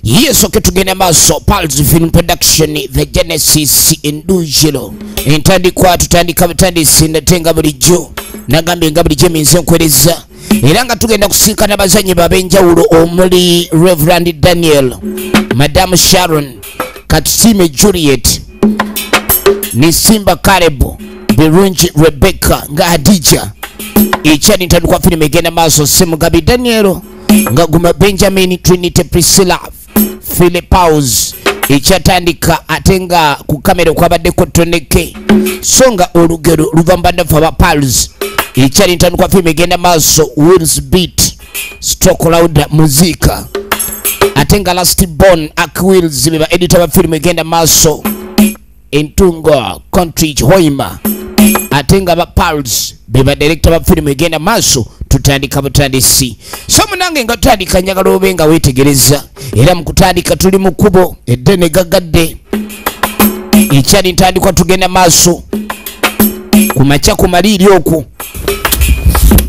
yesu okay, tugende maaso pals film production the genesis endujilo entandikwa tutandika butandisi ndate nga bulijjo nagambye nga bulijjo eminze enkwereza era nga tugenda kusinkana bazanyi babenjawulo omuli reverand daniel madamu sharon katusime juliet nisimba karebu birungi rebecca nga hadija ekyali ntandikwa firimu egenda maaso semugabi danielo nga guma benjamin trinity priscilla philipaus ekyatandika ate nga ku kamera okwabaddeko toneke so nga olugero luva mbadde fe aba pals ekyali ntandikwa firimu egenda maaso wills beat stock loud muzika ate nga last born ak wheels beba editor ba film egenda maso entungo country hoima ate nga ba pals beba director ba film egenda maso tutandika butandisi so munange nga tutandika njagala obe nga wetegereza era mu kutandika tuli mu kkubo eddene gagadde ekyali ntandikwa tugenda maaso ku makya ku maliiri oku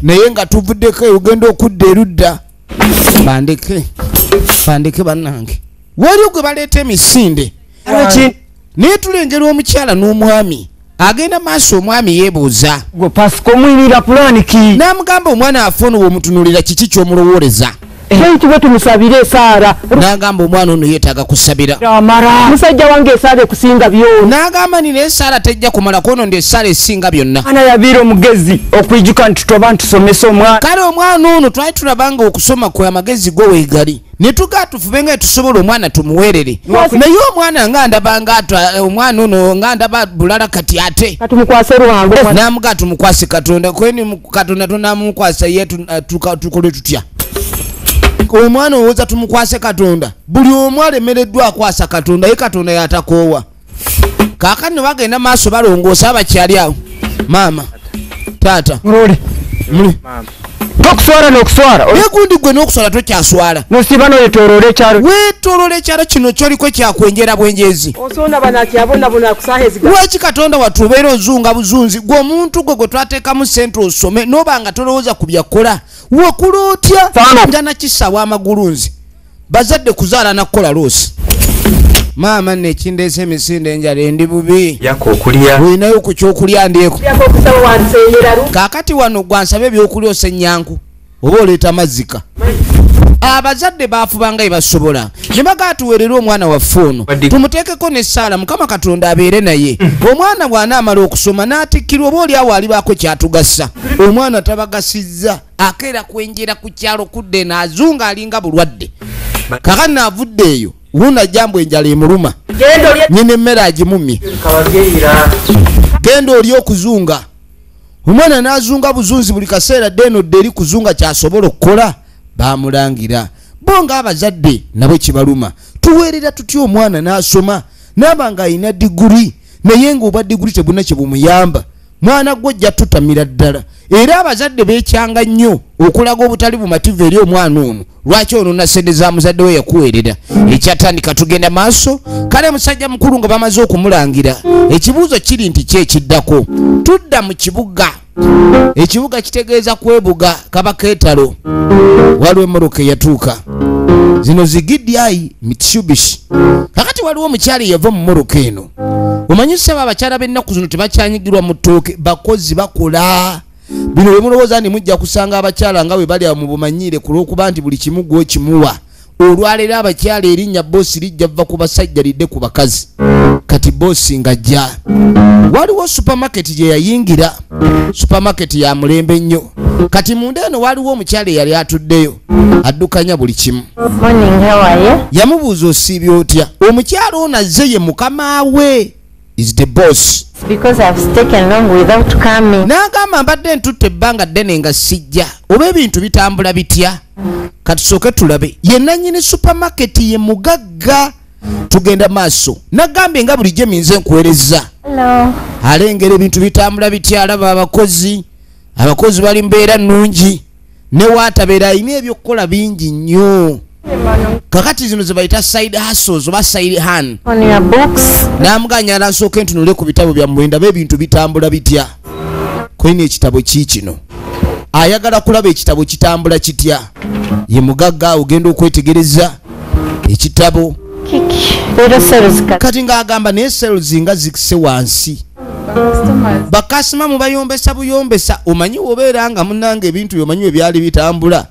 naye nga tuvuddeko eugenda okudda erudda bandeke bandeke bannange waliwo gwe baleeta emisinde naye tulengera omukyala n'omwami agenda maaso omwami yebuuza n'amugamba omwana afa ono womutunulira kiki kyomulowooleza ekitibwe eh. tumusabire esaara nagamba omwana ono yetaaga kusabira musajja wange esaara ekusinga byona nagamba nina esaara tejja kumala kwono ndi esaara esinga byonna ana yabiira omugezi okwijuka nti toba ntusomesa omwana kale omwana ono twali tulabanga okusoma kwe amagezi gwe wegali netugaa tufube nga tusobola omwana tumuwerere naye omwana nga ndaba nga eh, omwana ono nga ndaba bulala kati ate namugaa tumukwase katonda kweni katonda tonamukwasa ye eh, tukole tutya omwana owoza tumukwase katonda buli omu alemereddwa akwasa katonda ye katonda yatakoowa kakati no bagenda maaso balongoosa abakyali awo maama taata muli tokuswala nokuswala negundi gwe nokuswala tokyaswala nosiba noyetolola ekyalo wetolola ekyalo kino kyoliko ekyakwenjera bwenjezi lwaki katonda watu obeera ozunga buzunzi gwe omuntu gwe gwe twatekamu sente osome noba nga tolowooza ku byakola wakula otya nga nakisawa amagulu nzi bazadde kuzaala nakukola loosi maama nekindeesa emisinde enjala endi bubi olinayo ku kyokulya ndyeko kakati wano gwansaba ebyokulya osenyanku oba oleeta mazika abazadde baafubanga ebasobola ne bagaatuweerera omwana waffe ono tumuteekeko nessaala mukama katonda abeere naye hmm. omwana bw'anaamala okusoma n'atikkirwa oba olyawo alibaako kyatugasa omwana tabagasizza akeera kwenjera ku kyalo kudda eno azunga alinga bulwadde kaka naavudde eyo wuuna jambu enjala emuluma nyina emmere agimumye genda oli okuzunga omwana n'azunga buzunzi buli kaseera dde eno dde eri kuzunga kyasobola okukola bamulangira bo ng'abazadde nabo kibaluma tuweerera tutya omwana n'asoma naaba ng'alina diguli naye ng'obwa diguli tebuna kye bumuyamba mwana gwe ojja tutamira ddala era abazadde bekyanga nnyo okulaga obutali bumativu eri omwana ono lwaki onona sente za muzadde we yakuweerera ekyatandika tugenda maaso kale musajja mukulu nga bamaze okumulangira ekibuuzo kiri nti ki ekiddako tudda mu kibuga ekibuga kitegeeza kwebuga kaba keetalo waliwo emmotoka eyatuuka zino zigidyayi mitshubishi kakati waliwo omukyala eyava mu motoka eno omanyi saba abakyala bennaku zino tebakyanyigirwa mu ttooke bakozi bakola bino wemulowooza nti mujja kusanga abakyala nga bwe bali awo mubumanyiire ku lw'okuba nti buli kimu gwokimuwa olwaleero abakyala erinnya boosi lijja vva ku basajja lidde ku bakazi kati boosi nga jja waliwo supamaketi gye yayingira supamaketi ya mulembe nnyo kati munda eno waliwo omukyala eyali atuddeyo addukanya buli kimu yamubuuza osiibya otya omukyala ono azze ye mukama we is the boss n'agamba mbadde ntutte ebbanga ddene nga sijja oba ebintu bitambula bitya katusooke tulabe ye nanyini supamaketi ye mugagga tugenda maaso nagambye nga bulijjo minze nkuwereza alengera ebintu bitambula bitya alaba abakozi abakozi bali mbeera nnungi newatabeera alina ebyokukola bingi nnyo kakati zino zebayita side hustles oba side han namuganya alasooke ntunule ku bitabo byammwe ndaba ebintu bitambula bitya kwena ekitabo ki kino ayagala kulaba ekitabo kitambula kitya ye mugagga ogenda okwetegereza ekitabo kati ng'agamba naye sales nga zikise wansi bakasima mubayombesa buyombesa omanyi wobeera nga munanga ebintu byomanyi webyali bitambula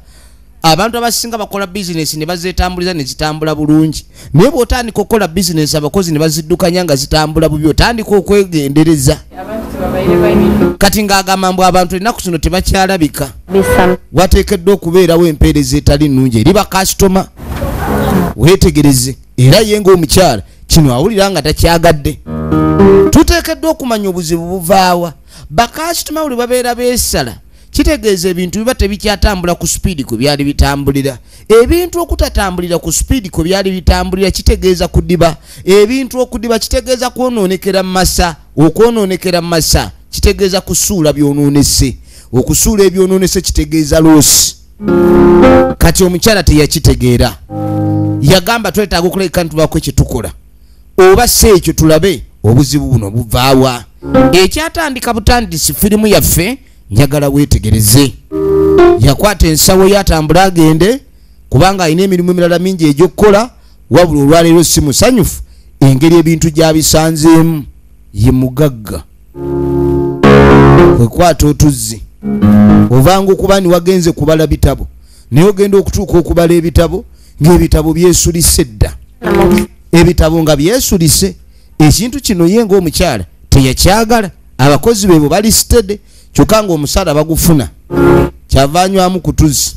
abantu abasinga bakola bizinesi ne bazetambuliza ne zitambula bulungi naye bwotandika okukola bizinesi abakozi ne baziddukanya nga zitambula bubi otandika okwegendereza kati ng'agamba mbu abantu ennaku zino tebakyalabika wateekeddwa okubeerawo empeereza etali nnungi eri bakasitoma weetegereze era ye ng'omukyala kino awulira nga takyagadde tuteekeddwa okumanya obuzibu buvaawa bakasitoma buli babeera beesala kitegeeza ebintu biba tebikyatambula ku sipiidi kwe byali bitambulira ebintu okutatambulira ku sipiidi kwe byali bitambulira kitegeeza kudiba ebintu okudiba kitegeeza kwonoonekera mu masa okwonoonekera mu masa kitegeeza kusuula byonoonese okusuula ebyonoonese kitegeeza loosi kati omukyala teyakitegeera yagamba twetaaga okuleka ntubako ekyetukola oba si ekyo tulabe obuzibu buno buvaawa ekyatandika butandisi firimu yaffe njagala weetegereze yakwata ensawo ye atambule agende kubanga alina emirimu emirala mingi egyokukola wabula olwaleero si musanyufu engeri ebintu gyabisanzeemu ye mugagga kwekwata otuzzi ovanga okuba niwagenze kubala bitabo naye ogenda okutuuka okubala ebitabo ngaebitabo byesulise dda ebitabo nga byesulise ekintu kino ye ngaomukyala teyakyagala abakozi bebo bali sitede kyokka ngaomusaala bagufuna kyava anywamu kutuzi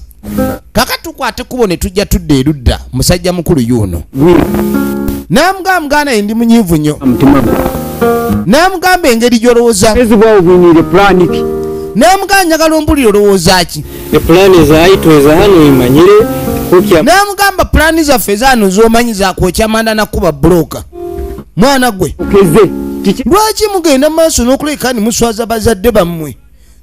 kaka tukwate kubo ne tujja tudda erudda musajja mukulu yuuno namugamba muganda ye ndi munyiivu nnyo namugamba engeri gyolowooza namugamba njagala ombulire olowooza ki namugamba pulaani zaffe ezaano zomanyi zakwokya manda nakuba buloka mwana gwe lwaki mugenda mu maaso n'okuleka ni muswaza bazadde bammwe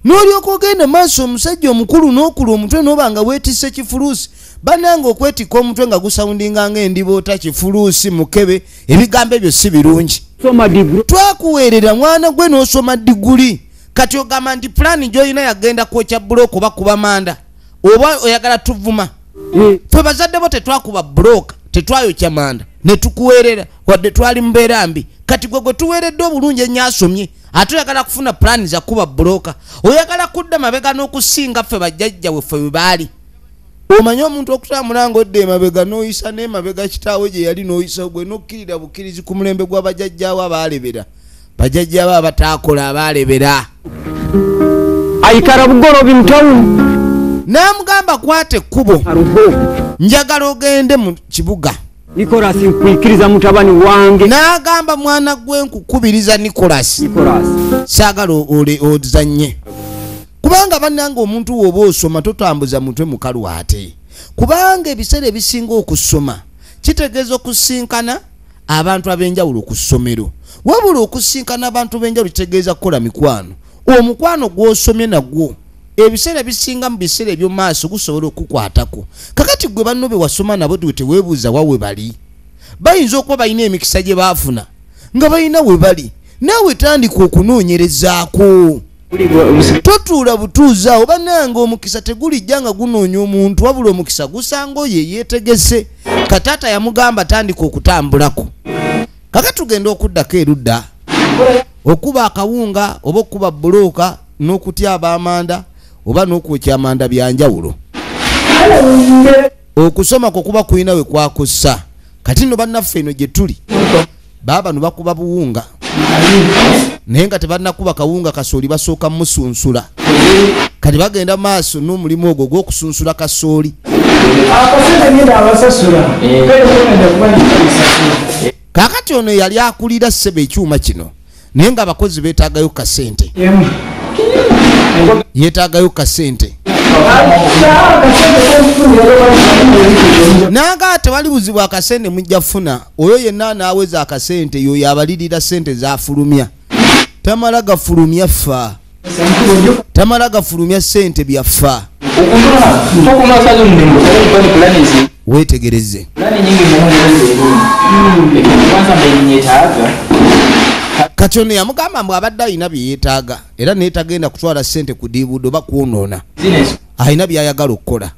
n'olyoka ogenda maaso omusajja omukulu n'okula omutwe n'oba nga weetisse kifuluusi bananga okwetikka omutwe nga gusawundinga nga endiboota kifuluusi mukebe ebigambo ebyo si birungi twakuweerera mwana gwe n'osoma diguli kati ogamba nti pulaani gy'olina yagenda kwokya bulooka oba kuba manda oba oyagala tuvuma eh. fe bazadde bo tetwakuba bulooka tetwayokya manda ne tukuweerera wadde twali mubeera mbi kati gwe gwe tuweeredde obulungi enyo asomye ate oyagala kufuna pulaani zakuba bulooka oyagala kudda mabega n'okusinga ffe bajjajja weffe we baali omanyi omuntu okutambula nga odda emabega n'oyisa n'emabega kitaawe gye yali n'oyisa ogwe n'okkirira bukkirizi ku mulembe gwa bajajjaawo abaalebera bajajjaawo abataakola abaalebera ayikala bugolobi mutawuni n'amugamba kwata ekkubo njagala ogende mu kibuga nikolasi nkwikiriza mutabani wange n'agamba mwana gwe nkukubiriza nikolasi saagala ozanye kubanga bannanga omuntu wooba osoma totambuza mutwe mukalu ate kubanga ebiseera ebisinga okusoma kitegeeza okusinkana abantu ab'enjawulo ku ssomero wabula okusinkana abantu b'enjawulo kitegeeza kukola mikwano omukwano gw'osomye nagwo ebiseera bisinga mu biseera ebyomumaaso gusobola okukwatako kakati gwe banno be wasoma nabo dwe tewebuuza wa we bali bayinza okuba balina emikisa gye baafuna nga balina we bali naawe tandika okunoonyerezaako totuula butuuzaawo banange omukisa tegulijja nga gunoonya omuntu wabula omukisa gusanga oyo eyeetegese kataata yamugamba tandika okutambulako kaka tugenda okuddako erudda okuba akawunga oba okukuba bbuluuka n'okutya abaamanda oba n'okwokya amanda bya njawulo okusoma kwe kuba kulina we kwakussa kati no bannaffe eno gye tuli baaba no bakuba buwunga naye nga tebannakuba kawunga kasooli basooka musunsula kati bagenda maaso n'omulimu ogwo gw'okusunsula kasooli kakati ono yali akulira ssebo ekyuma kino naye nga abakozi betagayo kasente yetagayo kasente nanga tewali buzibu akasente mujja funa oyo yenna anaweza akasente yoyo abalirira sente zafulumya tamala gafulumya ffa tamala gafulumya sente byaffa wetegereze kati ono yamugamba mbu abadde alina byeyetaaga era netagenda kutwala sente ku diibuudo oba kwonoona alina byayagala okukola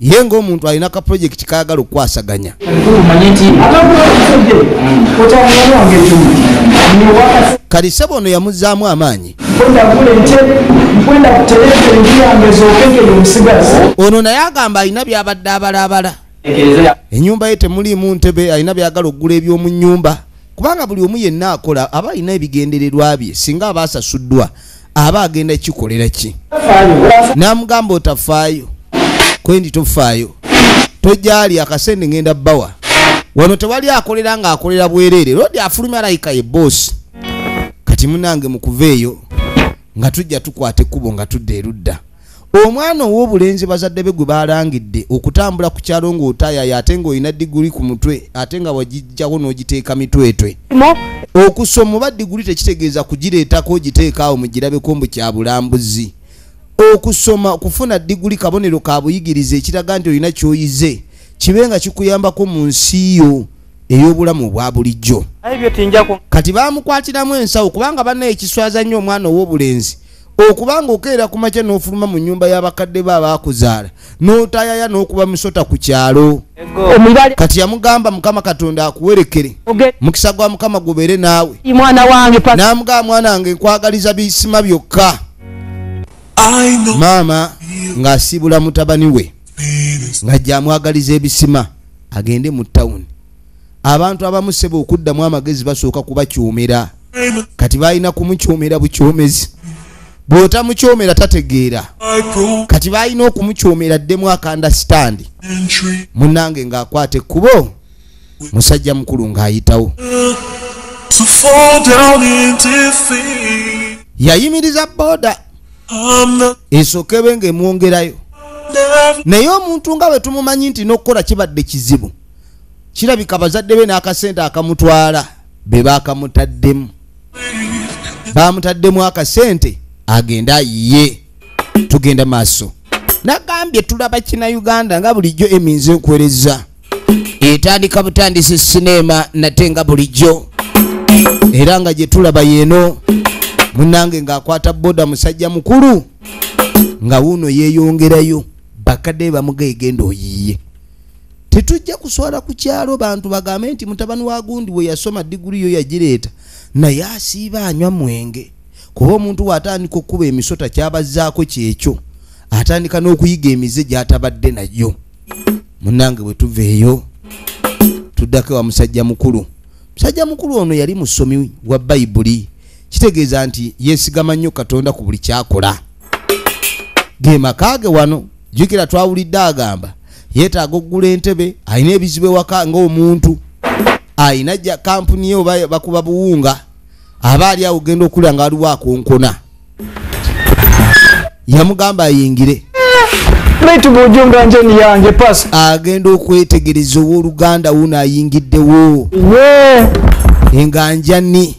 ye ngaomuntu alina ka projekiti kayagala okukwasaganya kati sebo ono yamuzaamu amaanyi ono naye agamba alina byabadde abalaabala enyumba ye temuliimu ntebe alina byagala okugula eby'omu nyumba kubanga buli omu yenna akola aba alina ebigendererwa bye singa aba asasuddwa aba agenda kikolera ki namugamba otafaayo kwendi tofaayo tojali akasente ngenda bawa wano tewali akolera nga akolera bwerere lodi afulumya layika ye bosi kati munange mukuva eyo nga tujja tukwata ekkubo nga tudda erudda omwana ow'obulenzi bazadde be gwe baalangidde okutambula ku kyalo ng'otaayayo ate ng'olina diguli ku mutwe ate nga wagijjawo n'ogiteeka mitwetwe okusoma oba diguli tekitegeeza kugireetako ogiteeka awo mugirabeko mbu kya bulambuzi okusoma okufuna diguli kabonero ka buyigirize ekiraga nti olina ky'oyize kibe nga kikuyambako mu nsi yo ey'obulamu obwa bulijjo kati baamukwatiramu ensawo kubanga banna ekiswaza nnyo omwana ow'obulenzi okuba ng'okeera ku makya n'ofuluma mu nnyumba y'abakadde be abaakuzaala n'otayaya n'okuba musota ku kyalo kati yamugamba mukama katonda akuwerekere mukisa gwa mukama gubeere naawe n'amugamba mwana wange nkwagaliza bisima byokka maama ng'asiibula mutabani we ng'ajja amwagaliza ebisima agende mu tawuni abantu abamu sebo okuddamu amagezi basooka kubakyumira kati balina kumukyumira bukyumezi bwotamukyomera tategeera kati balina okumukyomera ddemu akandasitandi munange ng'akwata ekkubo musajja mukulu ng'ayitawo yayimiriza boda esookebe ng'emwongerayo naye omuntu nga bwe tumumanyi nti n'okukola kibadde kizibu kirabika bazadde be n'akasente akamutwala be baakamutaddemu baamutaddemu akasente agende ayiye tugenda maaso nagambye tulaba kina uganda nga bulijjo eminze nkwereza etandika butandisi sineema nate nga bulijjo era nga gye tulaba yeeno munange ng'akwata boda musajja mukulu nga wuuno yeeyongerayo bakadde bamugaegenda oyiye tetujja kuswala ku kyalo bantu bagambe nti mutabani wa gundi we yasoma diguli yo yagireeta naye asiiba anywa mwenge kuba omuntu waatandika okukuba emisota kyabazzaako kyekyo atandika n'okuyiga emize gyatabadde nayo munange bwe tuva eyo tuddako ewa musajja mukulu musajja mukulu ono yali musomi wa bayibuli kitegeeza nti yeesigama nnyo katonda ku buli kyakola ge maka ge wano jukira twawulidde agamba yetaaga okugula entebe alina ebizibu ewaka ngaomuntu alina ja kampuni ye oba bakuba buwunga aba ali awo genda okulya nga waliwo akonkona yamugamba ayingire agenda okwetegereza owoluganda wo naayingiddewo enganjani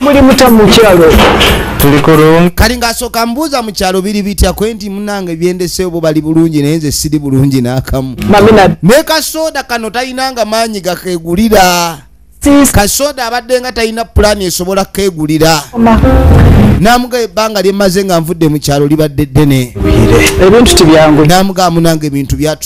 muli muta mukyalo kali ngaasooka mbuuza mu kyalo biri bitya kwe nti munange byendeseyo bo bali bulungi naye nze siri bulungi n'akamu ne kasooda kano talinanga maanyi gakegulira kasooda abadde nga talina pulaani esobola kukegulira namuga ebbanga lyemaze nga nvudde mu kyalo libadde ddene ebintu tibyangu namuga munange ebintu byatu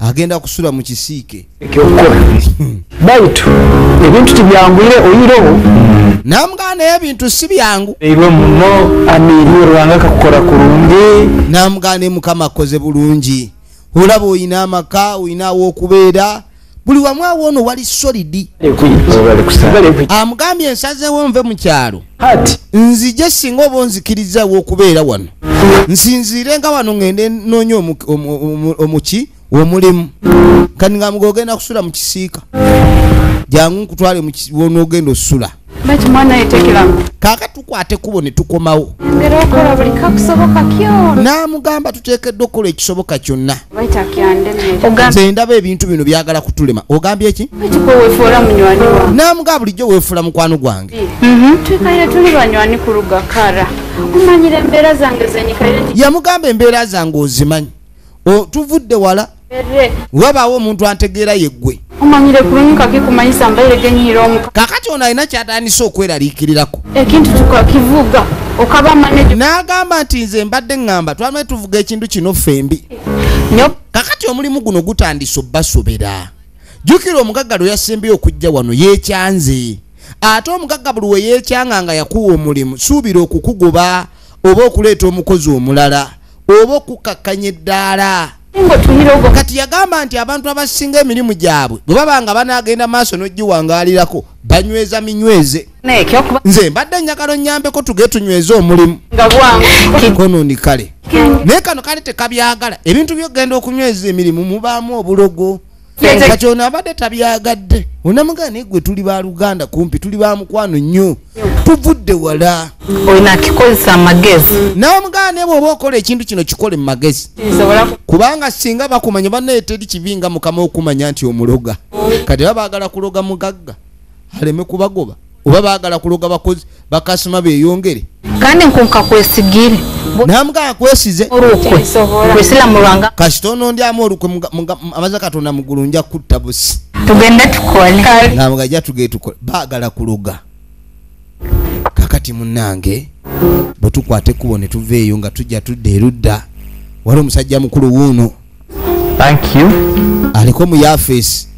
agenda kusula mu kisiike baitu ebintu tibyangwire oyirewo namugamba naye ebintu si byangu irwe muno amiirwe rwanga kakukora kurungi namugamba naye mukama akoze bulungi olaba olina amaka olina awokubeera buli wamu awo ono wali solidi amugambye ensazewo nve mu kyalo nzije singa oba onzikirizawo okubeera wano nsinziire nga wano ngende noonya omuki omulimu kani nga mugogenda kusula mu kisiika jangu nkutwale wonogenda osula kaaka tukwata ekkubo ne tukomawo n'amugamba tuteekeddwa okukola ekisoboka kyonna nze ndaba ebintu bino byagala kutulema ogambye eki n'amugamba bulijjo weefuula mukwano gwange mhm. yamugamba embeera zange ozimanyi tuvudde wala wabaawo omuntu antegeera yeggwe kakati ono alina kyatandise okweraliikirirako n'agamba nti nze mbadde ŋŋamba twame tuvuga ekintu kino ffembi kakati omulimu guno gutandise obbasobera jjukira omugagga lwe yasembye okujja wano yeekyanze ate omugagga buli we yeekyanga nga yakuwa omulimu suubira okukugoba oba okuleeta omukozi omulala oba okukakkanya eddaala kati yagamba nti abantu abasinga emirimu gyabwe bwe baba nga banaagenda maaso n'ogiwangaalirako banyweza minyweze nze mbadde njagala onyambeko tuge tunyweze omulimu konondi kale naye kano kale tekabyagala ebintu byokugenda okunyweza emirimu mubaamu obulogo kati ono abadde tabyagadde onamugana naye gwe tuli ba luganda kumpi tuli ba mukwano nnyo tuvudde wala olinakikozesa amagezi namugana naye bwoba okola ekintu kino kikole mu magezi kubanga singa bakumanya banaye teri kibi nga mukama okumanya nti omuloga kati ba bagala kuloga mugagga aleme kubagoba oba bagala kuloga bakozi bakasima beyongere kandi nkunka kwesigire namuga akwesize olukwe kwesila mulwanga kasita onondi amu olukwe amaze katonda mugulu nja kutta busi tugende tukole namuga ja tuge tukole bagala kuloga kakati munange bwetukwate kubo netuveeyo nga tujja tudda erudda wali omusajja mukulu wuuno thank you aliko mu yafeesi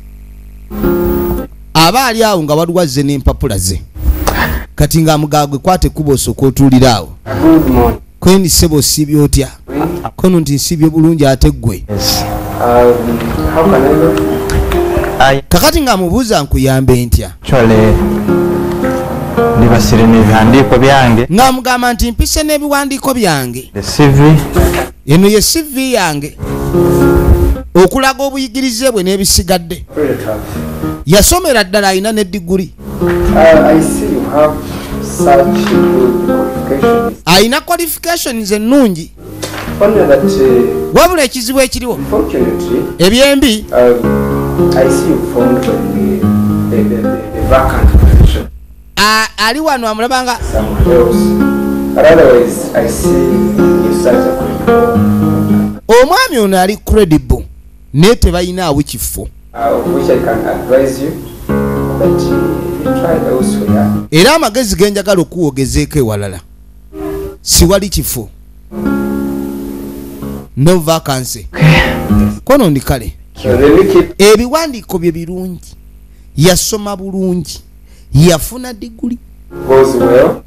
aba ali awo nga waliwo azze n'empapula ze kati nga mugagwe kwate kuba osooka otuulira awo kweni ssebo osiibye otya kono nti nsiibye bulungi ate ggwe kakati nga mubuuza nkuyambe ntya ndibasire n'ebiwandiiko byange nga mugamba nti mpise n'ebiwandiiko byange eno ye cv yange okulaga obuyigirize bwe n'ebisigadde yasomera ddala alina ne diguli uh, alina qualifications ennungi uh, wabula ekizibu ekiriwo ebyembi um, ali wano amulaba nga omwami ono ali credible naye tebalinaawo kifo uh, era amagezi ge njagala okuwogezeeko ewalala siwali kifo no vacancy kono ndi kale ebiwandiiko bye birungi yasoma bulungi yafuna diguli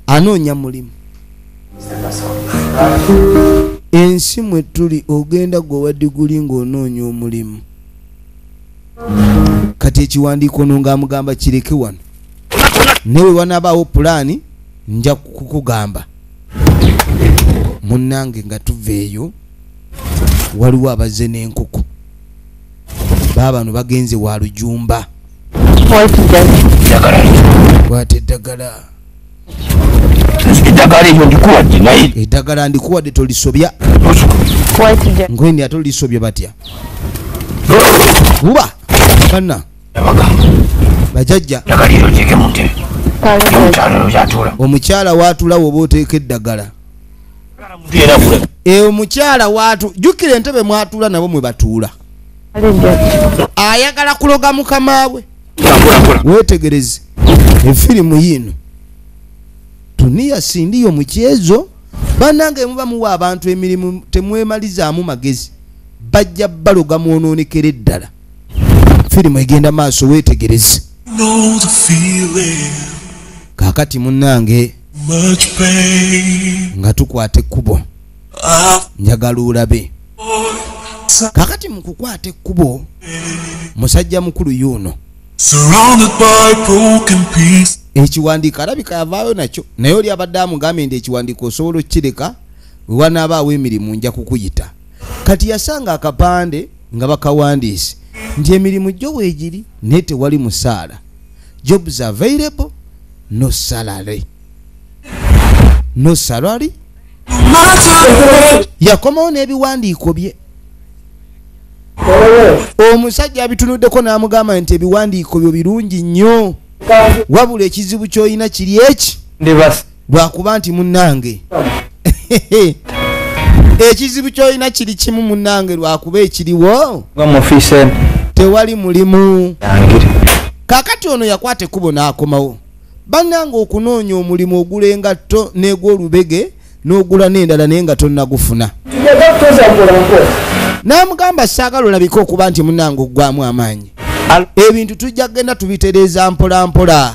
anoonya mulimu ensi mwe tuli ogenda gwe wa diguli ng'onoonya omulimu kati ekiwandiiko no ng'amugamba kireke wano naye bwe wanaabaawo pulaani nja kukugamba munnange nga tuva eyo waliwo abazze n'enkoko baabano bagenze wa lujumba kwata eddagala eddagala eryo ndikuwadde naye eddagala ndikuwadde tolisobya ngwendi ate olisobya batya kuba kanna bajajja omukyala waatulawo oba oteeka eddagala eyo eh, mukyala watu jukira entebe mwatuula nabo mwe batuula ayagala kuloga mukama we wetegereze efirimu yiino tuniya sindiyo mukyezo banange muba muwa abantu emirimu temwemalizaamu magezi bajja baloga mwonoonekera eddala firimu egenda maaso wetegereze kakati munange nga tukwata ekkubo njagala olabe kakati mu kukwata ekkubo musajja mukulu yuuno ekiwandiiko alabika yavaayo nakyo naye oli abadde amugambye nti ekiwandiiko osobola okukireka wewanaabaawo emirimu nja kukuyita kati yasanga akapande nga bakawandiise nti emirimu gyo weegiri naye tewali musaala jobs available no salary no salary yakomawo n'ebiwandiiko bye omusajja abitunuddeko n'amugamba nti ebiwandiiko byo birungi nnyo wabula ekizibu ky'olina kiri eki lwakuba nti munange ekizibu kyolina kiri kimu munange lwakuba ekiriwo tewali mulimu kakati ono yakwata ekkubo n'akomawo bannanga okunoonya omulimu ogula engatto n'egwolubege n'ogula n'endala naye nga tonnagufuna n'amugamba saagala olabika okuba nti munange oggwamu amaanyi ebintu tujja kugenda tubitereeza mpolampola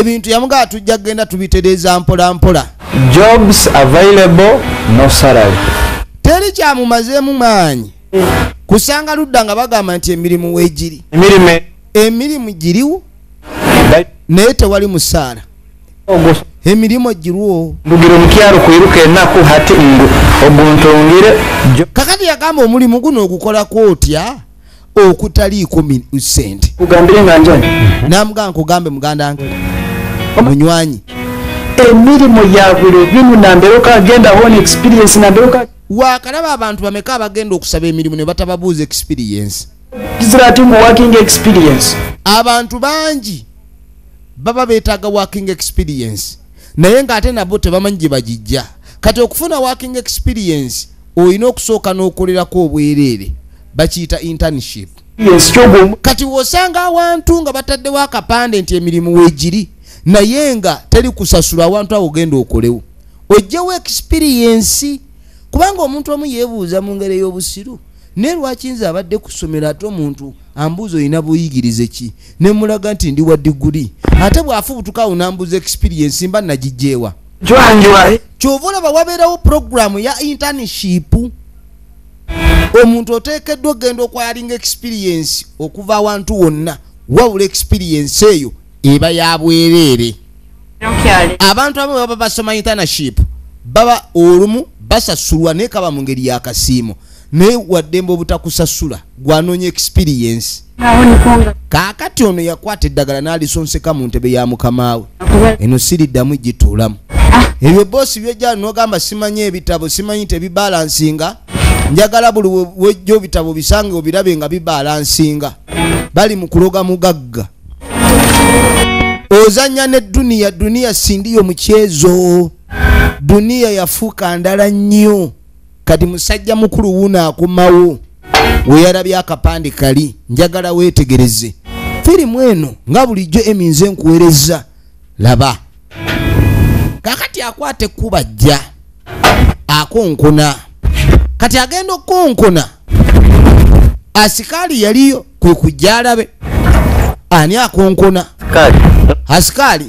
ebintu yamugaa tujja kugenda tubitereeza mpola mpola jobs available no salary teri kyamumazeemu maanyi kusanga ludda nga bagamba nti emirimu wegiri emirimu giriwo naye tewali musaala emirimu girwo mbugira omukyalo kwiruka enaku hati ngu oguntungire kakati yagamba omulimu guno ogukolako otya okutaliiko sente namugaa nkugambe muganda nge munywanyi emirimu yabuli bimu namberoka agenda hona experience namberoka wakalaba abantu bameka abagenda okusaba emirimu ne batababuuza experience ziratingu working experience abantu bangi baba betaaga working experience naye ngaate nabo tebamanyi gye bagijja kati okufuna working experience olina okusooka n'okolerako obwereere bakiyita internship kati wosanga awantu nga bataddewo akapande nti emirimu wegiri naye nga teri kusasula awantu awo ogenda okolewo ojjewo ekisipiriyensi kubanga omuntu omu yebuuza mu ngeri ey'obusiru naye lwaki nze abadde ku ssomero ate omuntu ambuuza olina buyigirize ki ne mulaga nti ndi wa diguli ate bw'afubutuka awo nambuuza ekisipiriyensi mba nagijjeewa kyova olaba wabeerawo puroguramu ya internship omuntu oteekeddwa okugenda okwalinga experiensi okuva awantu wonna wawula experiensi eyo eba ya bwereere abantu abamu baba basoma internship baba olumu basasulwa naye kaba mu ngeri yakasiimo naye waddembe obutakusasula gwanoonya experience kaakati ono yakwata eddagala n'alisonseka mu ntebe ya mukamaawe eno siriddamu gituulamu ah. ebyo boosi byojjala nogamba simanyi ebitabo simanyi tebibalansinga njagala buli wejja obitabo bisange obirabe nga bibalansinga bali mu kuloga mugagga ozanya ne duniya duniya sindiyo mukyezo duniya yafuuka ndala nnyo kati musajja mukulu wuuno akomawo weyalabye akapande kali njagala weetegereze firimu eno nga bulijjo eminze nkuwereza laba kakati akwata ekkuba jja akonkona kati agenda okukonkona asikaali yaliyo kwe kujja alabe ani akonkona asikaali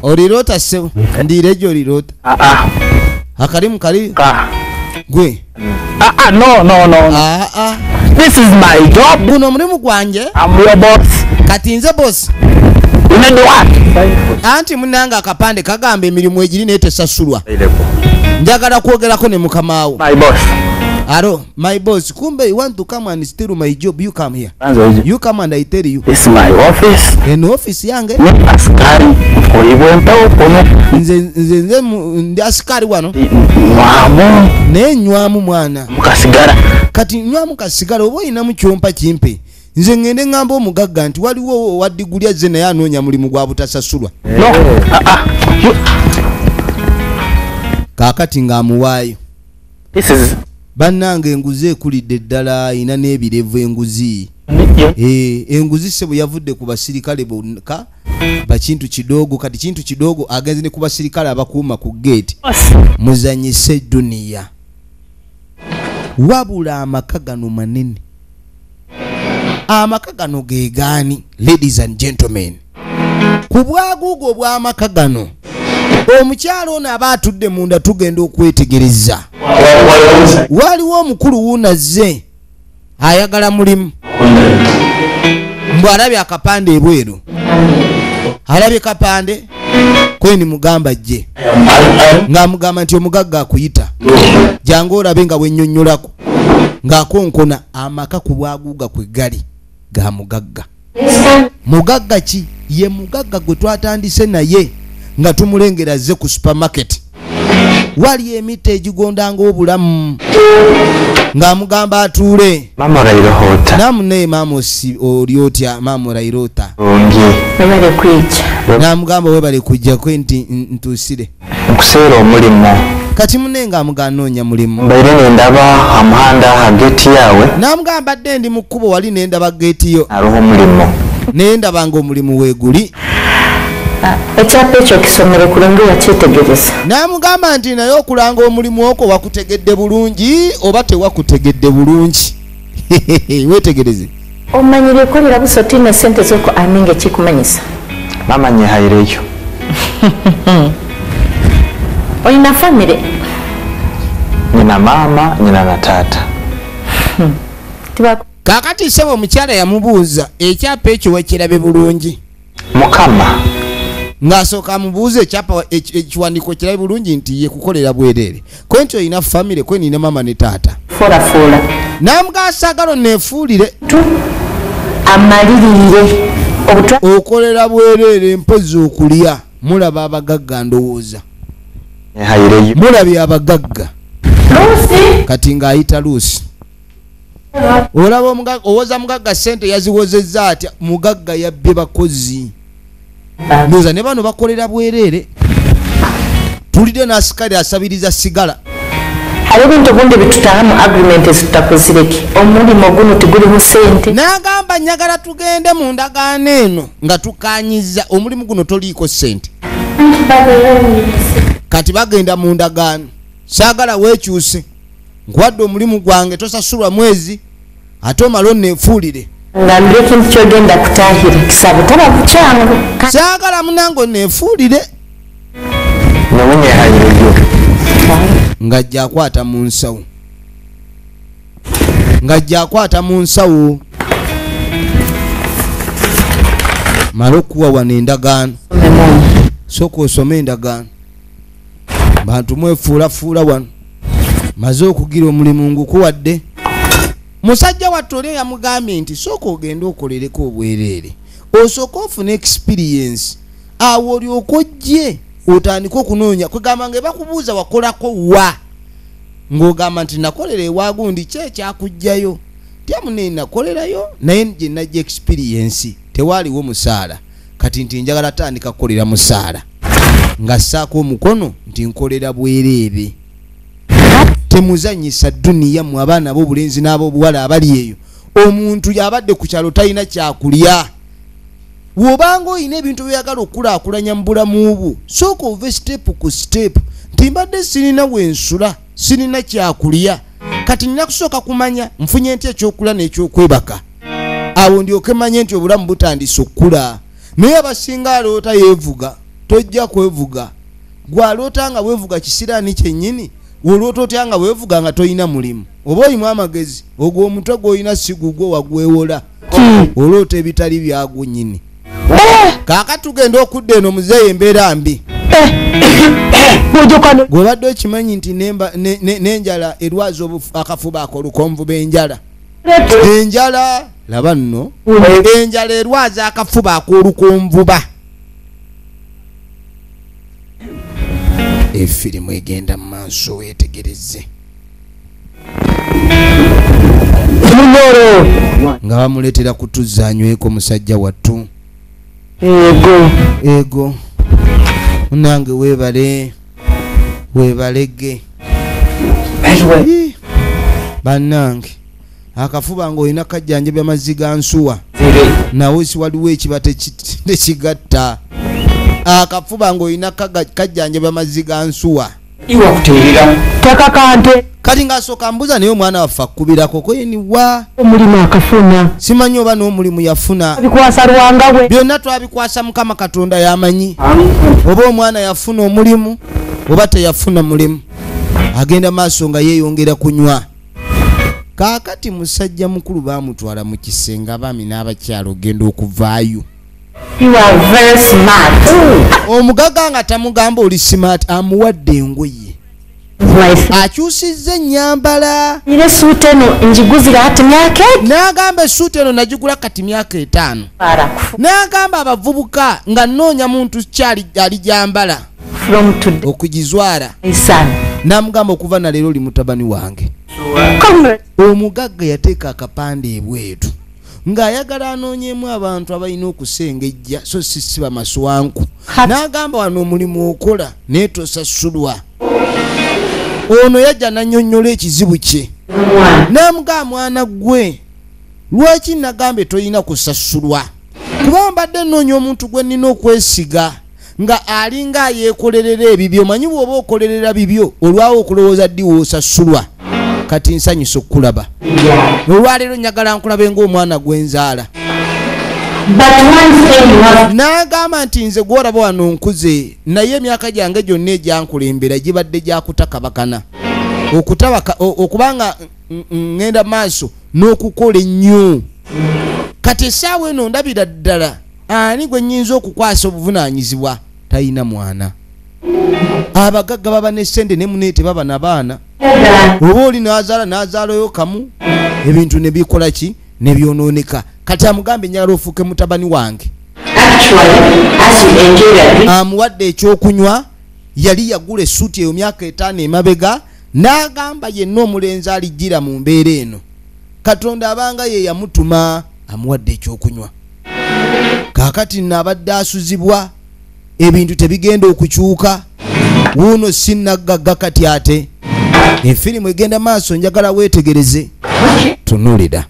olirota sebo ndiire gyo olirota ah, ah. akalimu kali gwe guno omulimu gwange kati nze bosi anti munange akapande kagamba emirimu egiri naye tesasulwa njagala kwogerako ne mukamawo aro my boss kumbe you want to come and steal my job you come here you come and i tell you this my office in office yange ni askari oyibwe mpawo kono nze nze nze ndi askari wano mwamu ne nywamu mwana mukasigara kati nywamu kasigara obo ina mu chompa chimpe nze ngende ngamba omugagga nti waliwo wa diguli azze naye anoonya mulimu gwa butasasulwa no. uh, uh, you... kakati ng'amuwaayo this is bannange enguzi ekulidde ddala ina n'ebirevu enguzi eh, enguzi sebo yavudde ku basirikale bokka bakintu kidoogo kati kintu kidoogo agenze ne ku basirikale abakuuma ku geeti muzanyise duniya wabula amaka gano manene amaka gano gegaani ladies and gentlemen ku bwaguugo obw'amaka gano omukyalo ono aba atudde munda tugenda okwetegereza waliwo omukulu wuunazze ayagala mulimu mbu alabye akapande ebweru alabye kapande kweni mugamba jje ng'amugamba nti omugagga akuyita jangu olabe nga bwenyonnyolako ng'akonkona amaka ku lwaguuga kwe gali ga mugagga mugagga ki ye mugagga gwe twatandise naye nga tumulengera azze ku supermarket wali emitta egigondanga obulamu ng'amugamba atuule namunaye maama oli otya maama orairota n'amugamba webale kujjako nti ntuusire nkuseera omulimu kati mune nga amugaa noonya mulimu mbaire nendaba amuhanda ha geeti yaawe namugaa mbadde ndi mu kkubo wali nendaba geeti yo aliho omulimu naye ndaba nga omulimu weeguli ah, ekyapa ekyo kisomere kulungi wakyetegereza namugamba nti naye okulanga omulimu okwo wakutegedde bulungi oba tewakutegedde bulungi wetegereze omanyi byekolera busa otiina esente zoko ani nga ekikumanyisa mama nyehayira ekyo olina famire nyina maama nyina na taata hmm. kakati sebo omukyala yamubuuza ekyapa ekyo wakirabe bulungi mukama ng'asooka amubuuza ekyapa ekiwandiiko kirabe bulungi nti ye kukolera bwereere kwe nti olina famire kwe nina maama ne taata folafola namugasagalo neefuulire amaliririre okolera bwereere mpozi okulya mulaba abagagga ndowooza mulabye abagagga kati ng'ayita luusi olaba omugagga owoza mugagga sente yaziwozezza atya mugagga yabbye bakozi ndoza ne bano bakolera bwereere tulidde n'asikali asabiriza sigala hari ebintu bundi bitutaha mu agreement ezitutakozireki omulimo guno tiguliho sente nagamba nyagala tugende mu ndagaano eno nga tukanyiza omulimu guno toliiko sente kati bagenda mu ndagaano saagala wekyuse nkuwadde omulimu gwange tosasulwa mwezi ate omala oneefuulire nga ndi ekintu kyogenda kutahira kisabo taba bukyangu kyagala munange oneefuulire ngajja akwata mu nsawo ngajja akwata mu nsawo mala okukuwa wano endagaano sooka osome endagaano bantu mwefuulafuula wano maze okugira omulimu ngukuwadde musajja wattu oli yamugambye nti sooka ogende okolereko obwereere osooka ofuna experience awo olyoka ojje otandike okunoonya kwegamba nga ebakubuuza wakolako wa ng'ogamba nti nakolera ewagundi ki ekyakugjayo tyamunaye nakolerayo naye gyenajja experience tewaaliwo musaala kati nti njagala tandika kukolera musaala nga saako omukono nti nkolera bwereere temuzanyisa duniya mu abaana bobulenzi n'abobuwala abali eyo omuntu yabadde ku kyalo talina kyakulya wobanga olina ebintu byoyagala okukulakulanya mu bulamu bwo sooka ove sitepu ku sitepu nti mbadde sirina wensula sirina kyakulya kati nina kusooka kumanya nfunye nti ekyokulya n'ekyokwebaka awo ndyoke manye nti obulamu butandise okukula naye abasinga aloota yevuga tojja kwevuga gwaloota nga wevuga kisiraani kyennyini woloota otya nga wevuga nga tolina mulimu oba oyimu amagezi ogwo omutwe gwolina sigugwo wagwewola hmm. oloota ebitali byagu nyini eh. kaka tugenda okudda eno muzeeyi embeera mbi gwobadde okimanyi nti nenjala erwaza akafuba ako olukonvu benjala enjala laba nno enjala erwaza akafuba ak'olukonvuba efirimu egenda mu maaso weetegereze nga bamuleetera kutuzza anyweko musajja wattu ego ego munange weebale webalege banange akafuba nga olina kajjanjabya mazzi ga nsuwa nawe si waliwo ekiba tekigatta akafuba nga olina kajjanjabya mazzi ga nsuwa iwakuteerera takakante kati ng'asooka mbuza naye omwana waffe akubirako kweniwa omulimu akafuna simanyi oba n'omulimu yafuna bikwasa lwanga we byonna twabikwasa mukama katonda yamanyi oba omwana yafuna omulimu oba teyafuna mulimu agenda maaso nga yeeyongera kunywa kaakati musajja mukulu baamutwala mu kisenge abaami n'abakyalo ogenda okuvaayo omugaga nga tamugamba oli simaati amuwadde engoye akyusizza ennyambala era esuuta eno ngiguzira kati myaka n'agamba esuuta eno nagigula kati myaka etaano n'agamba abavubuka nga nnoonya muntu kyali ali gyambala okugizwala n'amugamba okuva na leero oli mutabani wange omugagga yateeka akapande ebwetu ng'ayagala anoonyemu abantu abalina okusengejja so sisiba maswanku n'agamba wano omulimu okola naye tosasulwa ono yajja nanyonyola ekizibu kye n'amugaa mwana gwe lwaki nagambye tolina kusasulwa kuba mbadde nnoonya omuntu gwe nnina okwesiga nga alinga ayekolerera ebibyo manyi bwoba okolerera bibyo olwawo okulowooza ddi woosasulwa kati nsanyusa okukulaba olwaleero nyagala nkulabe ngaomwana gwenzaala n'agamba nti nze gwolaba wano nkuze naye emyaka gyange gyonna egyankulembera gibadde gyakutakabakana okutabaka okubanga ŋŋenda maaso n'okukola ennyo kati essaawa eno ndabira ddala ani gwe nyinza okukwasa obuvunanyizibwa tayina mwana abagagga baba ne sente ne mune tebaba na baana oba oli nazaala nazaalayo kamu ebintu nebikola ki nebyononeka kati amugambe njagala ofuuke mutabani wange amuwadde ekyokunywa yali yagula esuuti eyo myaka etaano emabega n'agamba yenna omulenzi alijjira mu mbeera eno katonda abanga ye yamutuma amuwadde ekyokunywa kakati nno abadde asuzibwa ebintu tebigenda okukyuka wuuno sinaggagga kati ate efirimu egenda maaso njagala weetegereze tunulira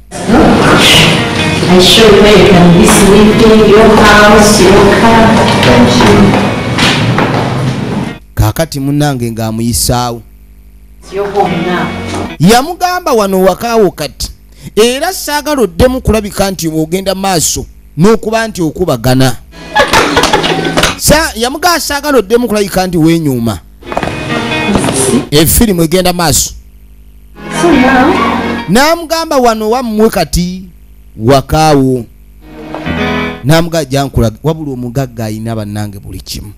kakati munange ng'amuyisaawo yamugamba wano wakaawo kati era saagala oddemu kulabika nti ogenda maaso n'okuba nti okubagana yamugaa saagala oddemu kulabika nti wenyuuma efirimu egenda maaso n'amugamba wano wammwe kati wakaawo n'amugaa jankulaga wabula omugagga alina bannange buli kimu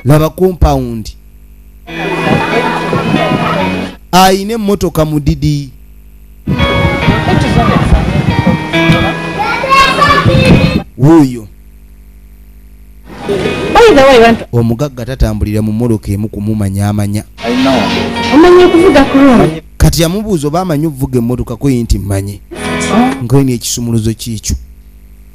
laba kompawundi alina emmotoka mudidi wuuyo omugagga tatambulira mu mmotoka emu kumumanya amanya kati yamubuuza oba amanyi okuvuga emmotoka kweyi nti mmanyi oh. nkoyina ekisumuluzo kiikyo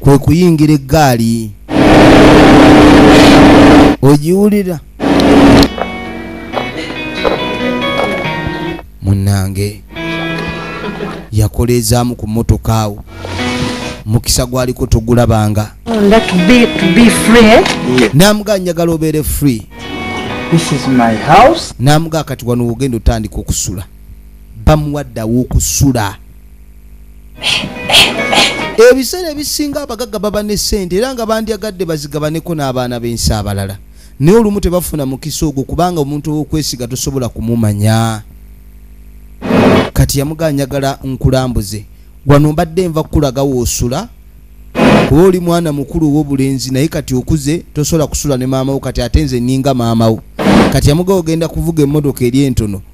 kwe kuyingira eggaali ogiwulira munnange yakoleezaamu ku mmotoka awo mukisa gwaliko togulabanga namuga njagala obeere free namuga kati wano wogenda otandika okusula bamuwadde aw'okusula ebiseera ebisinga abagagga baba ne ssente era nga bandyagadde bazigabaneko n'abaana b'ensi abalala naye olumu tebafuna mukisa ogwo kubanga omuntu ow'okwesiga tosobola kumumanya kati yamugaa njagala nkulambuze wano mbadde nva kukulaga woosula kuba oli mwana mukulu ow'obulenzi naye kati okuze tosobola kusula ne maamawo kati ate nze nninga maamawo kati yamugaa ogenda kuvuga emmotoka eri entono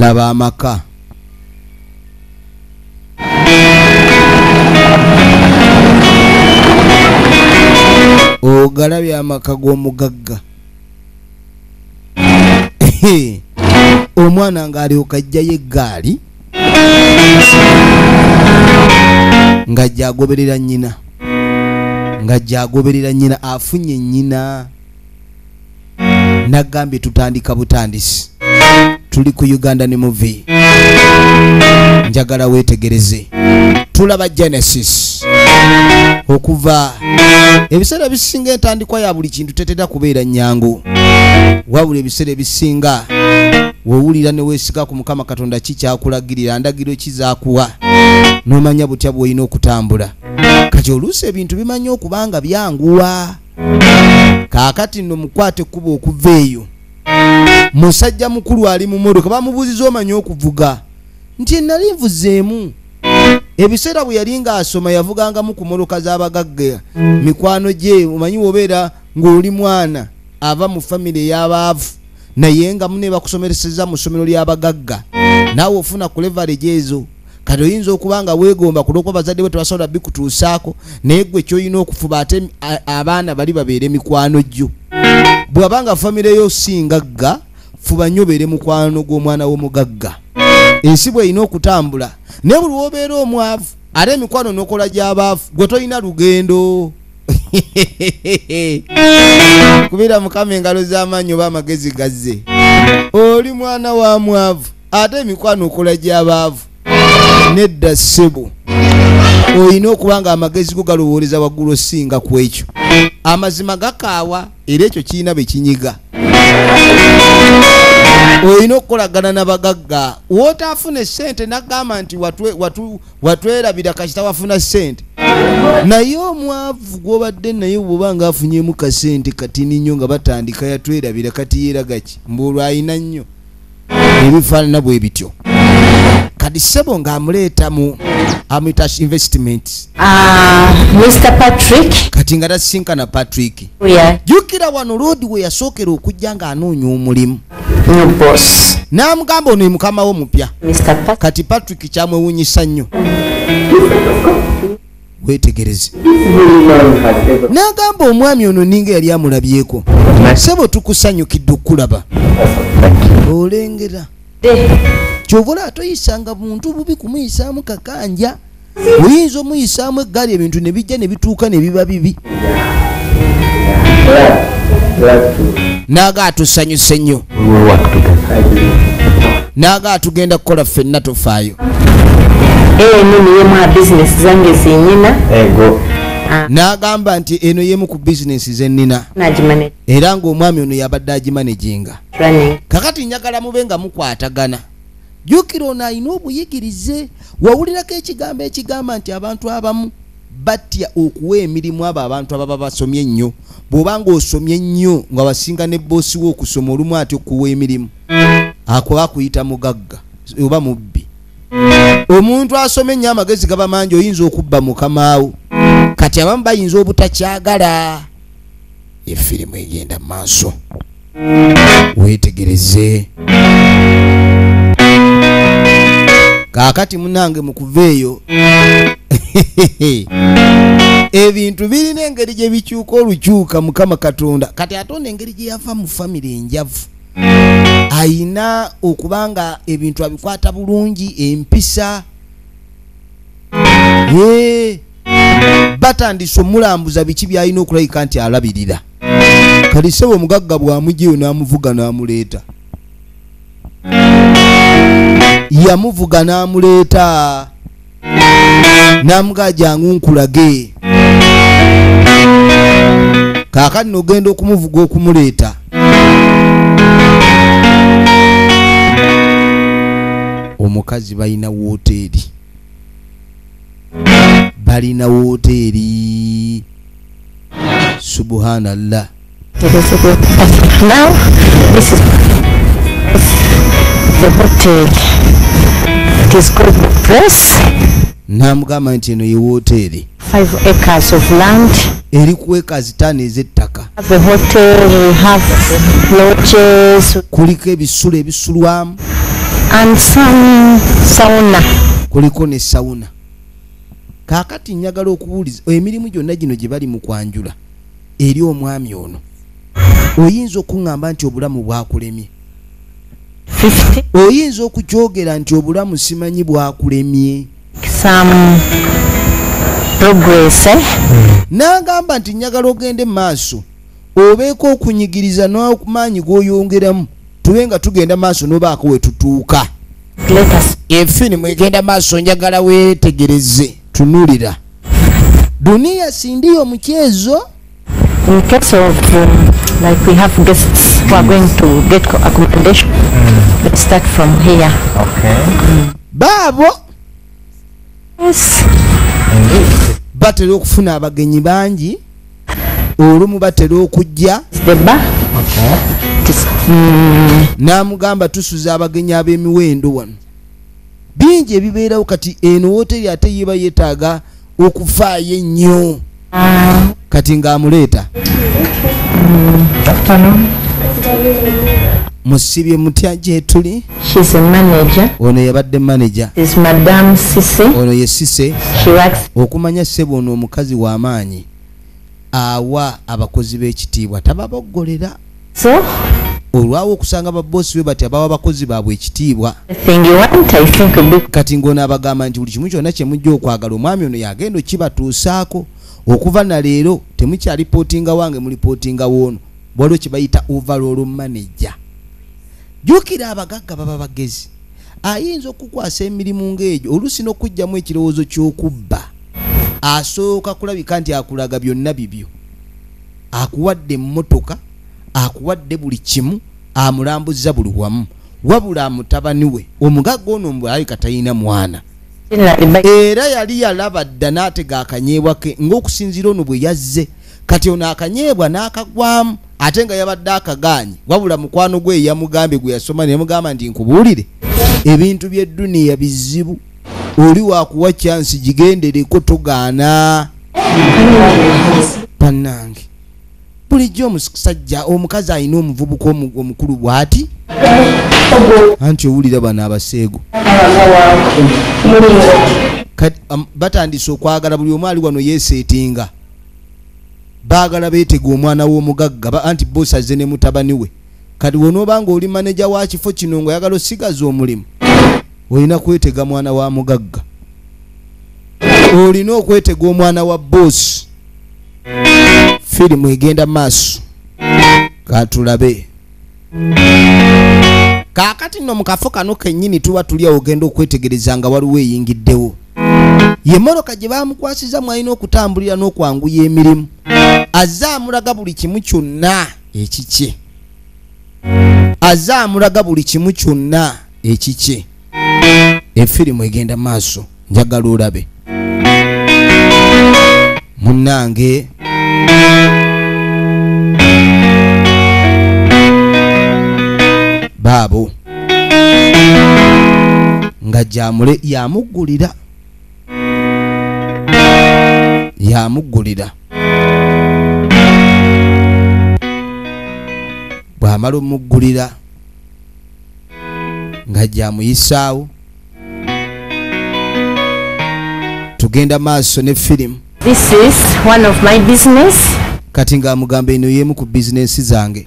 laba amaka ogalabye amaka g'omugagga omwana ng'alyoka ajjayo eggaali nga gyagoberera nnyina nga gyagoberera nnyina afunye nnyina nagambye tutandika butandisi tuli ku uganda ne muvi njagala wetegereze tulaba genesis okuva ebiseera ebisinga entandikwa ya buli kintu tetera kubeera nyangu wabula ebiseera ebisinga wowulira newesiga ku mukama katonda ki kyakulagirira ndagiro ki zakuwa nomanya butya bwolina okutambula kati oluusi ebintu bimanyi okuba nga byanguwa kaakati nno mukwate ekkuba okuva eyo musajja mukulu ali mu modoka bamubuuziza omanyi okuvuga nti enali nvuzeemu ebiseera bwe yali ng'asoma yavugangamu ku modoka z'abagagga mikwano gye omanyi wobeera ng'oli mwana ava mu famire ey'abaavu naye nga mune bakusomereseza mu ssomero ly'abagagga naawe ofuna ku levarege ezo kati oyinza okuba nga weegomba ku lwokuba bazadde bwe tebasobola bikutuusaako naye gwe kyolina okufuba ate abaana bali babeere mikwano gyo bwaba nga famire yo singagga fuba nnyo obeere mukwano gw'omwana w'omugagga ensi bw'erina okutambula naye buli wobeera omwavu ate emikwano nokola gyabaafu gwe tolina lugendo kubira mukama engalo z'amaanyi oba amagezi gazze oli mwana wa mwavu ate emikwano okola gy'abaavu nedda ssebo olina okuba nga amagezi go galowooleza waggulu osinga ku ekyo amazima gakaawa era ekyo kirina be kinyiga olina okukolagana na bagagga wootaafuna essente nagamba nti watwerabira kasita wafuna sente naye omwavu gwobadde naye bwoba nga afunyemu kasente katini nnyo nga batandika yatwerabira kati yeragaki mbuolwo ayina nnyo ebifaanana bwe bityo kadi sebo nga amuleeta mu amitash investment ah, mr patrick kati nga tasinkana patrick jukira wano loodi we yasookera okujja ng'anoonya omulimu n'amugamba ono emukama wo mupya kati patrick kyamwewunyisa nnyo wetegereze n'agamba omwami ono ninga yali amulabyeko sebo tukusanyukidde okukulaba olengera kyovula atoyisanga muntu bubi kumuyisaamu kakanja oyinza omuyisaamu eggaali ebintu ne bijja ne bituuka ne biba bibi naaga atusanyuse nnyo naaga atugenda kukola ffenna tofaayo eno niyo mwa bizinesi zange zenyina Ah. n'agamba nti eno yemu ku bizinesi ze nnina era ng'omwami ono yabadde agimaneginga kakati njagala mube nga mukwatagana jukira ono alina obuyigirize wawulirako ekigambo ekigamba nti abantu abamu batya okuwa emirimu abo abantu ababa basomye ennyo bwoba nga osomye ennyo nga basinga ne boosi wo okusoma olumu ati okuwa emirimu akuba akuyita mugagga oba mubbi omuntu asoma ennyo amagezi gaba mangi oyinza okubba mukamaawo kati abamu bayinza obutakyagala ye firimu egenda mu maaso weetegereze kaakati munange mu kuva eyo ebintu birina engeri gye bikyuka olukyuka mukama katonda kati ate ono engeri gye yava mu famire enjavu ayina okuba nga ebintu abikwata bulungi empisa batandise omulambuza biki byalina okulabika nti alabirira kati sebo omugagga bwamujeyo namuvuga namuleeta yamuvuga namuleeta namugaa jangu nkulage kakati nogenda okumuvuga okumuleeta omukazi balina wooteeri balina wooteeri subhanallah namugamba nti eno ye wooteeri Five acres of land. Eri ku acres ttaano ez'ettaka. Have a hotel, we have lodges. Kuliko ebisulo ebisulwamu. And some sauna. Kuliko ne sauna. Kaakati njagala okubuuliza emirimu gyonna gino gye bali mu kwanjula eri omwami ono oyinza okuŋŋamba nti obulamu bwakulemye oyinza okukyogera nti obulamu simanyi bwakulemye some progress eh? n'agamba nti njagala ogende mu maaso obeeko okunyigiriza n'amaanyi g'oyongeramu tube nga tugenda maaso n'obaako we tutuuka efirimu egenda maaso njagala weetegereze tunulira duniya sindiyo omukyezo In case of, um, like we have guests who are mm. going to get accommodation, mm. let's start from here. Okay. Mm. Babo? Yes. batera okufuna abagenyi bangi olumu batera okujja mm. n'amugamba tusuza abagenyi ab'emiwendo wano bingi ebibeerawo kati eno woteri ate yeba yetaaga okufaayo ennyo kati ng'amuleeta musibye mutya gyetuli ono yabadde manaja ono ye sise okumanya sebo ono omukazi w'amaanyi awa abakozi b'ekitiibwa tababoggolera so olwawo okusanga baboosi be bati abawa abakozi baabwe ekitiibwa kati ng'ono abagamba nti buli kimu kyonna kye mujja okwagala omwami ono yagenda okibatuusaako okuva na leero temukyalipootinga wange mulipootinga woono waliwo kye bayita overall manager jjukira abagagga baba bagezi ayinza okukukwasa emirimu ng'egyo oluusi n'okujjamu ekirowoozo ky'okubba asooka kulabika nti akulaga byonna bibyo akuwadde emmotoka akuwadde buli kimu amulambuzza buli wamu wabula amutabani we omugagga ono mbwalabika talina mwana era yali yalaba dda n'atega akanyeebwa ke ng'okusinziira ono bwe yazze kati ono akanyeebwa n'akagwamu ate nga yabadde akagaanyi wabula mukwano gwe yamugambye gwe yasoma neyamugamba nti nkubuulire ebintu byedduniya bizibu oli wakuwa kyansi gigendereko togaana banange bulijjo omusajja omukazi alina omuvubuka omukulu bwati anti owulira bano abaseego batandise okwagala buli omu ali wano yeseetinga baagala beetega omwana w'omugagga ba anti bosi azze ne mutabani we kati wonooba nga oli maneja wa kifo kino nga oyagala osigaza omulimu olina kwetega mwana wa mugagga olina okwetega omwana wa bosi firimu egenda maaso katulabe kaakati nno mu kafo kano kennyini tuba tuli awo ogenda okwetegereza nga waliwo eyingiddewo ye mmotoka gye baamukwasiza mwalina okutambulira n'okwanguya emirimu azze amulaga buli kimu kyonna ekikye azze amulaga buli kimu kyonna ekikye efirimu egenda maaso njagala olabe munange baabo nga gyamule yamuggulira yamuggulira bwamala omuggulira nga gyamuyisaawo tugenda maaso ne firimu kati ng'amugamba eno y'emu ku bizinensi zange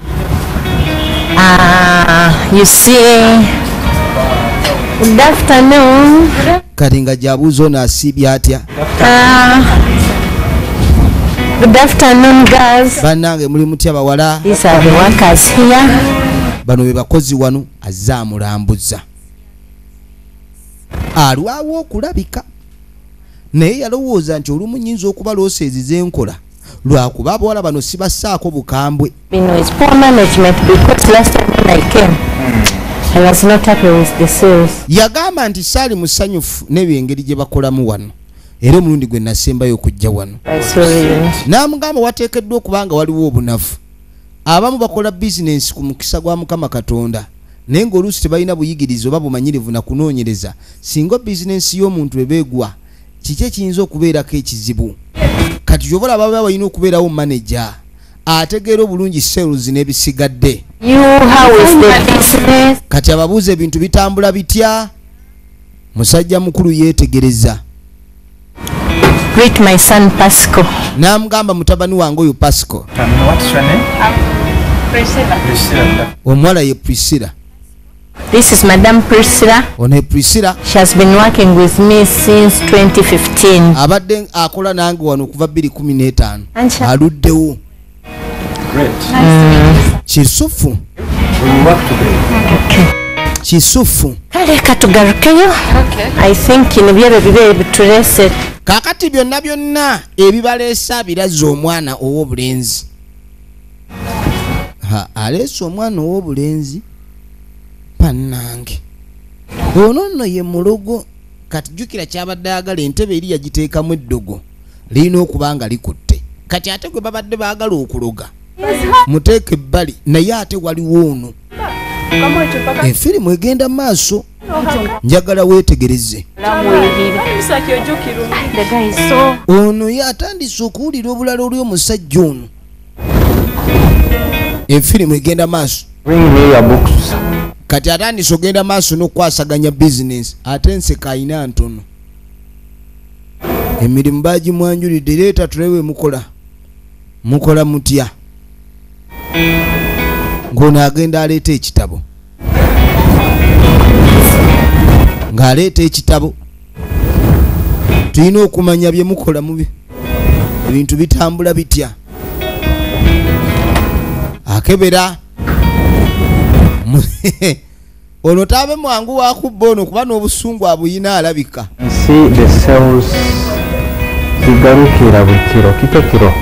ah, kati nga gyabuuza ono asiibye atya Uh, Good afternoon, girls. Banange muli mutya bawala? These are the workers here. Bano be bakozi wano azza amulambuza. Alwawo okulabika. Naye yalowooza nti olumu nyinza okuba looseezi zenkola. lwakuba abawala bano sibassaako bukambwe yagamba nti saali musanyufu n'ebyo engeri gye bakolamu wano era omulundi gwe nasembayo okujja wano n'amugamba wateekeddwa okuba nga waliwo obunafu abamu bakola bizinensi ku mukisa gwa mukama katonda naye ng'oluusi tebalina buyigirizi oba bumanyirivu na kunoonyereza singa bizinensi y'omuntu ebeegwa kiki ekiyinza okubeerako ekizibu kati kyoba olaba baba balina okubeerawo manaja ategeera obulungi sales n'ebisigadde kati ababuuza ebintu bitambula bitya musajja mukulu yeetegereza n'amugamba mutabani wange oyo pasco omuwala ye priscilla This is Madam Priscilla. One Priscilla. She has been working with me since 2015. Abadde akola nange wano okuva 2015. Aluddewo. Great. Mm. Kisufu. We work together. Okay. Kisufu. Kale katugarukeyo. Okay. I think in byebe bibe bitulese. Kakati byonna byonna ebibaleesa birazza omwana ow'obulenzi. aleese omwana ow'obulenzi bannange ono nno ye mulogo kati jjukira kyabadde agala entebe eri yagiteekamu eddogo lirina okuba nga likutte kati ate gwe babadde baagala okuloga muteeke ebbali naye ate waliwo ono efirimu egenda maaso njagala weetegereze ono ye atandise okuwulira obulala oli omusajja ono efirimu egenda maaso kati atandise ogenda maaso n'okukwasaganya bizinensi ate enseka ayina ntono emirimu bagimwanjulidde leeta tulewe mukola mukola mutya ng'ono agenda aleeta ekitabo ng'aleeta ekitabo tulina okumanya bye mukola mubi ebintu bitambula bitya akebera ono taabe mwangu wakubba ono kuba n'obusungu abuyina alabika zigarukira buli kiro kito kiro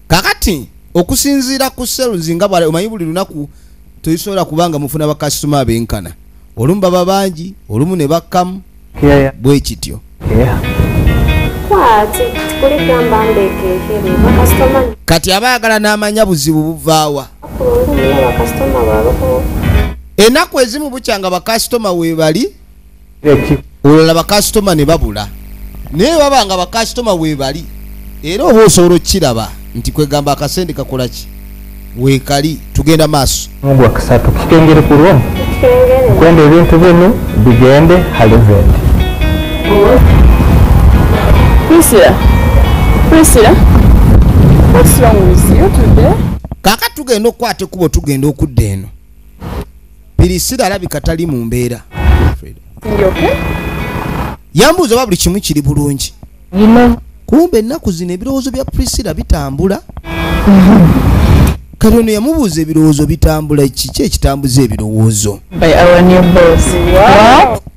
kakati okusinziira ku cells nga bwala omanyi buli lunaku tezisobola kuba nga mufuna bakasitoma abenkana olumu baba bangi olumu ne bakkamu bwe kityo kati aba ayagala n'amanya buzibu buvaawa enaku ezimu bukyanga bakasitoma webali olala bakasitoma ne babula naye baba nga bakasitoma webali era oba osobola okukiraba nti kwegamba akasente kakola ki wekali tugenda maaso mugwakusatu kikengere ku lwo kwenda ebintu binu bigende halivende kaka tugenda okukwata ekubo tugenda okudda eno pirisira alabika tali mu mbeera yambuuza oba buli kimu kiri bulungi kumbe ennaku zino ebirowoozo bya pirisira bitambula kati ono yamubuuza ebirowoozo bitambula kiki ekitambuza ebirowoozo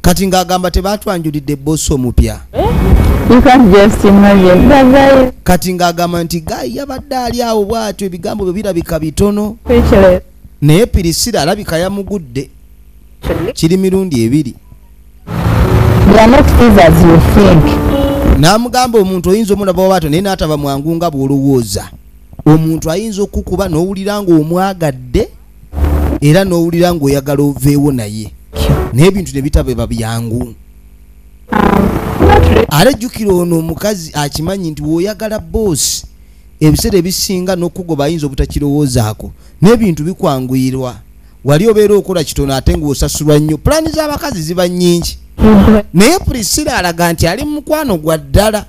kati ng'agamba tebaatwanjulidde boosi omupya eh? kati ng'agamba nti gayi yabadde ali awo bw'atyo ebigambo byo birabika bitono naye pirisira alabika yamugudde kiri mirundi ebiri n'amugamba omuntu oyinza omulaba wabaato naye n'ataba mwangu nga bw'olowooza omuntu ayinza okukuba n'owulira ng'omwagadde era n'owulira ng'oyagala oveewo naye naye ebintu ne bitaba eba byangu um, ate jjukira ono omukazi akimanyi nti w'oyagala boosi ebiseera ebisinga n'okukugoba ayinza obutakirowoozaako n'ebintu bikwanguyirwa wali obeera okola kitono ate ng'osasulwa nnyo pulaani z'abakazi ziba nnyingi naye prisila alaga nti ali mukwano gwa ddala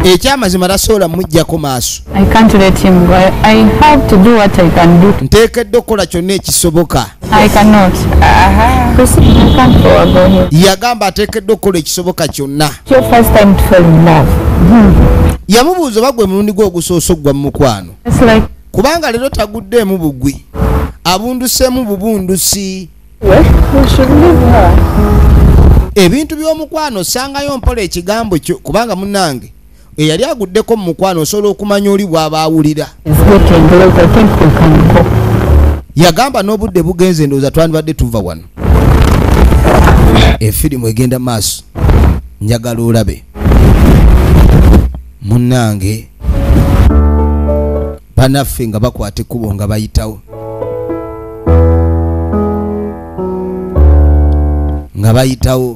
ekyamazima tasobola mujjako maaso nteekedde okukola kyonna ekisoboka yagamba ateekeddwa okukola ekisoboka kyonna hmm. yamubuuza oba gwe mulundi gwe ogusoose okugwa mu mukwano kubanga leero taguddeemu bugwi abunduseemu bubundusi ebintu by'omukwano osangayo mpola ekigambo kyo kubanga munange eyali aguddeko mu mukwano osobola okumanya oli bwaba awulira yagamba n'obudde bugenze ndowooza twandibadde tuva wano efirimu egenda maaso njagala olabe munnange banaffe nga bakwata ekkubo nga bayitawo nga bayitawo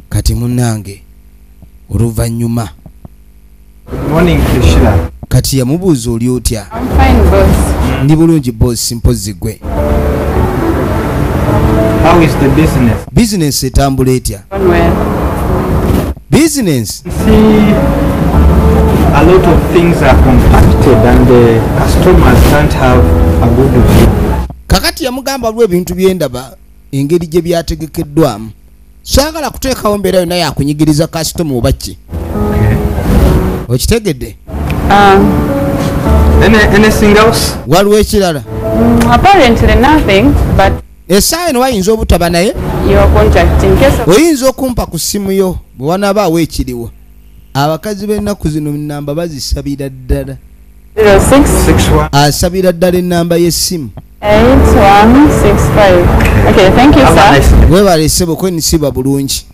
kati munange oluvannyuma kati yamubuuza oli otya ndi bulungi bosi mpozzi gwe bizinensi etambula etya bizinensi A lot of things are compacted and the customers can't have a good view. kakati yamugamba lwa ebintu byendaba engeri gye byategekeddwamu saagala kuteekawo mbeera yonna yakunyigiriza kasitoma oba ki okitegedde ah. waliwo ekirala esaawa eno wayinza obutaba naye oyinza okumpa ku ssimu yo bwe wanaabaawo ekiriwo abakazi b'ennaku zino namba bazisabira ddala asabira ddala ennamba y'essimu webale ssebo kwenisiba bulungi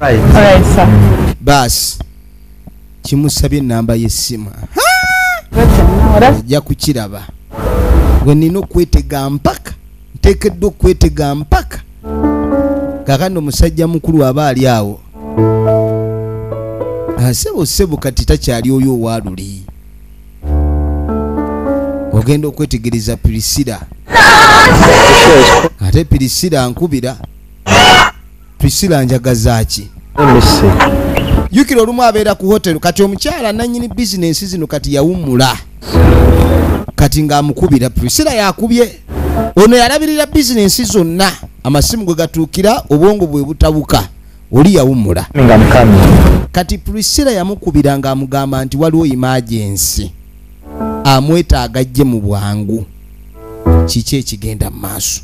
baasi kimusabye ennamba y'essimu ajja kukiraba gwe nina okwetega mpaka nteekeddwa okwetega mpaka kakandi omusajja mukulu aba ali awo asebo ah, sebo kati takyali oyo owaluli ogenda okwetegereza pirisira ate pirisira nkubira pirisira njagazaaki jukira olumu abeera ku hotelu kati omukyala nanyini bizinensi zino kati yawummula kati ng'amukubira pirisira yakubye ono yalabirira bizinensi zonna amasimu gwe gatuukira obwongo bwe butabuka oli yawummula kati priscilla yamukubira ng'amugamba nti waliwo imagensi amwetaaga ajje mu bwangu kiki ekigenda mu maaso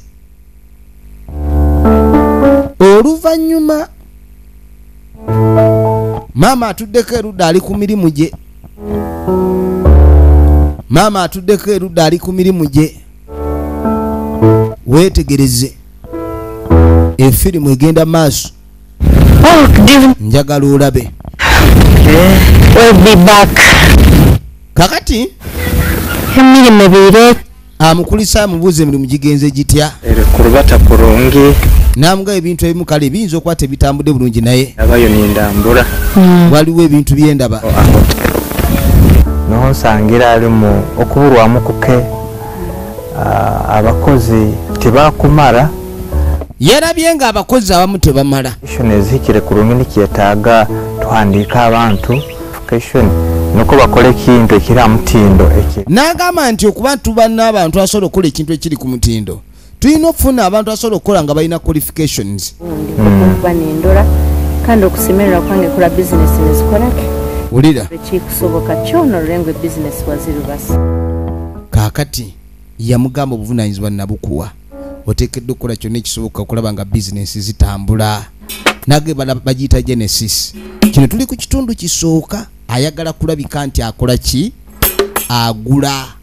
oluvannyuma maama atuddeko erudda ali ku mirimu gye maama atuddeko erudda ali ku mirimu gye weetegereze efirimu egenda maaso njagala olabe kakati emirimu biire amukulisa amubuuza emirimu gigenze gitya kulubata kulungi namuga ebintu ebimu kale biyinza okuba tebitambudde bulungi naye abayo nindambula hmm. waliwo ebintu byendaba oh, ah. nonsangira alimu okubulwamu kuke ah, abakozi tebakumara yarabye nga abakozi abamu tebamala ezikire ku lungini kyetaaga tuhandiika abantu nuko bakola ekintu ekiri amutindo n'agamba nti okuba tuba n'abantu asobola okukola ekintu ekiri ku mutindo tulina okufuna abantu asobola okukola nga balina qualifications okuba nendola kandi okusemerera kwange kula bizinesi nezikolaki wulira ekikusoboka kyona olulengwa ebizinesi wazirubasa kaakati yamugamba obuvunanyizibwa nabukuwa otekedde okukola kyonna ekisoboka okulaba nga bizinesi zitambula nage bagiyita genesis kino tuli ku kitundu kisooka ayagala kulabika nti akola ki agula